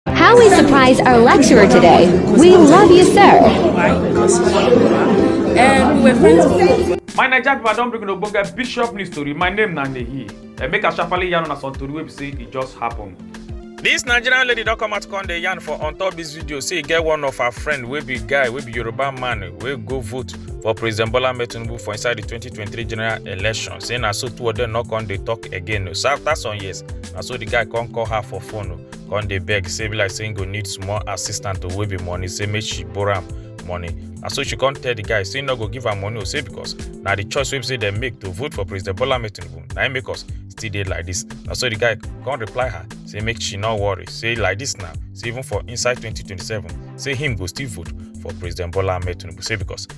How we surprise our lecturer today. We love you, sir. And we were friends for my naija pipo i don bring una ogbonge bishop news tori my name na nehi eh, make i sharparly yarn una some tori wey be say e just happen. This nigerian lady don come out come dey yarn for on top this video say e get one of her friend wey be guy wey be yoruba man wey go vote for president bola ahmed tinubu for inside the 2023 general election say na so two of them no come dey talk again so after some years na so the guy come call her for phone come dey beg say be like say he go need small assistant to wave him money say make she borrow am money na so she come tell the guy say he no go give am money o say because na the choice wey be say dem make to vote for president bola ahmed tinubu na im make us still dey like this na so the guy come reply her say make she no worry say like this now say even for inside 2027 say him go still vote for president bola ahmed tinubu say because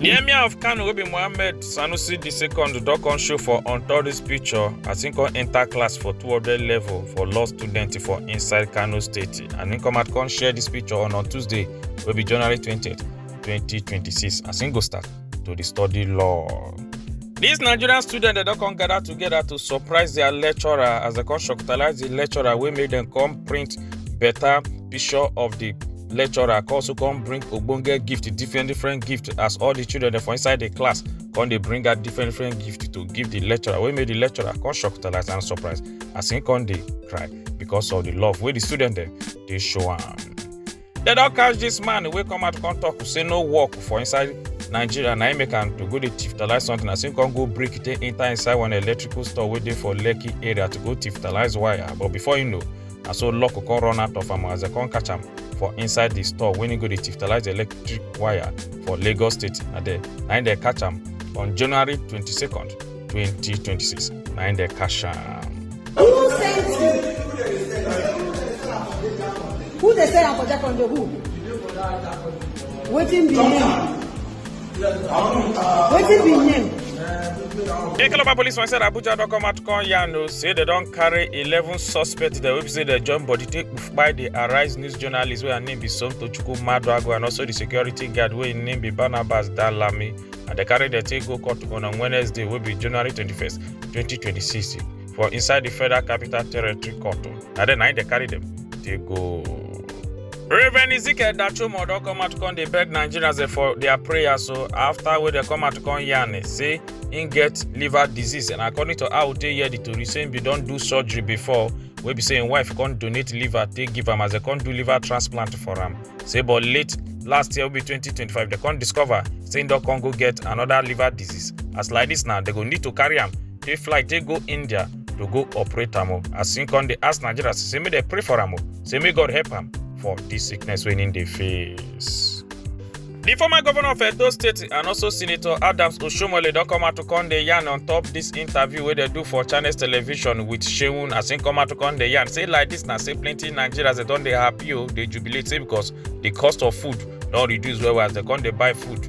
di emir of kano wey be mohammed sanusi di second don come show for on top dis picture as im come enta class for 200 level for law students for inside kano state and im come out come share dis picture on on tuesday wey be january 20 2026 as im go start to dey study law. These Nigerian students they don come gather together to surprise their lecturer as they come shocktalize the lecturer wey make them come print better picture of the lecturer come also come bring ogbonge gift different different gift as all the children dem for inside the class come dey bring out different different gift to give the lecturer wey make the lecturer come shock talize and surprise as him come dey cry because of the love wey the student dem dey show am. dem don catch this man wey come out come talk say no work for inside nigeria na him make am to go dey thief talize something as him come go break take enter inside one electrical store wey dey for lekki area to go thief talize wire but before him know na so luck come run out of am as dem come catch am for inside di store wey e go dey tiftalise electric wire for lagos state na there na im dem catch am on january 22nd 2026 na im dem catch am. Who sent you? Who dey sell am for Jakondo? Who? Wetin be name? wetin be name. di calabar police for inside abuja don come out come yarn o say dem don carry eleven suspects dem wey be say dem join body take kpai di arise news journalist wey her name be somtochukwu maduagu and also di security guard wey im name be barnabas dalami and dem carry dem take go court on wednesday wey be january twenty-first twenty twenty-six for inside the federal capital territory court o na there na im dey carry dem dey go. Reverend Ezekiel Dachomo don come out come dey beg Nigerians eh, for their prayers so after wey dem come out come yarn eh, say im get liver disease and according to how tey hear the tori say im bin don do surgery before wey be say im wife come donate liver take give am as dem come do liver transplant for am say but late last year wey be 2025 dem come discover say im don come go get another liver disease as like this now dem go need to carry am if flight take go india to go operate am o as him come dey ask nigerians say make dem pray for am o say make god help am for dis sickness wey him dey face. di former governor of edo state and also senator adams oshomole don come out to come dey yarn on top dis interview wey dem do for channels television wit seun as him come out to come dey yarn say like dis na say plenty nigerians dem don dey happy o dey jubilate say because di cost of food don reduce well well as dem come dey buy food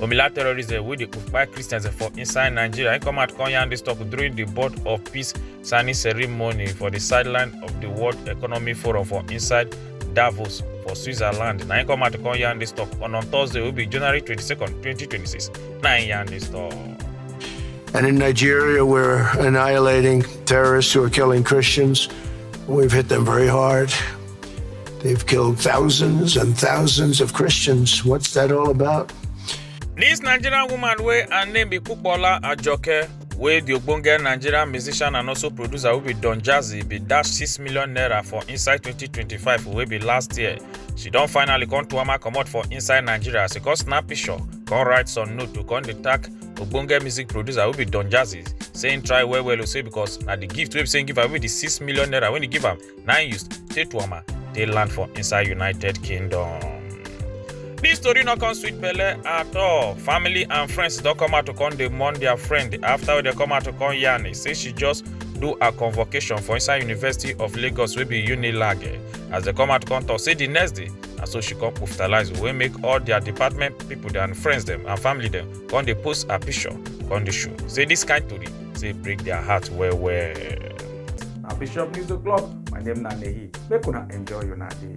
Omila terrorists eh, wey dey occupy Christians eh, for inside Nigeria. He come out come yarn this talk during the Board of Peace signing ceremony for the sideline of the World Economic Forum for inside Davos for Switzerland. Na him come out to come yarn this talk on on Thursday wey be January 22nd, 2026. Na him yarn this talk. And in Nigeria, we're annihilating terrorists who are killing Christians. We've hit them very hard. They've killed thousands and thousands of Christians. What's that all about? This Nigerian woman wey her name be Kupola Ajoke wey the ogbonge Nigerian musician and also producer wey be Don Jazzy be dash six million naira for inside 2025 wey be last year. She don finally come Tuama comot for inside Nigeria as she come snap picture, come write some note to come dey tag ogbonge music producer wey be Don Jazzy say him try well well o say because na the gift wey be say him give am wey be the six million naira wey he give am na im use take tuama dey land for inside united kingdom dis tori no come sweet belle at all family and friends don come out to come dey mourn their friend after wey dem come out to come yarn say she just do her convocation for inside university of lagos wey be unilag as dem come out come talk say di next day na so she come hospitalize wey make all dia department pipo and friends dem and family dem come dey post her picture come dey show say dis kain tori say break their heart well well. na bishop news o'clock my name na nehi make una enjoy una day.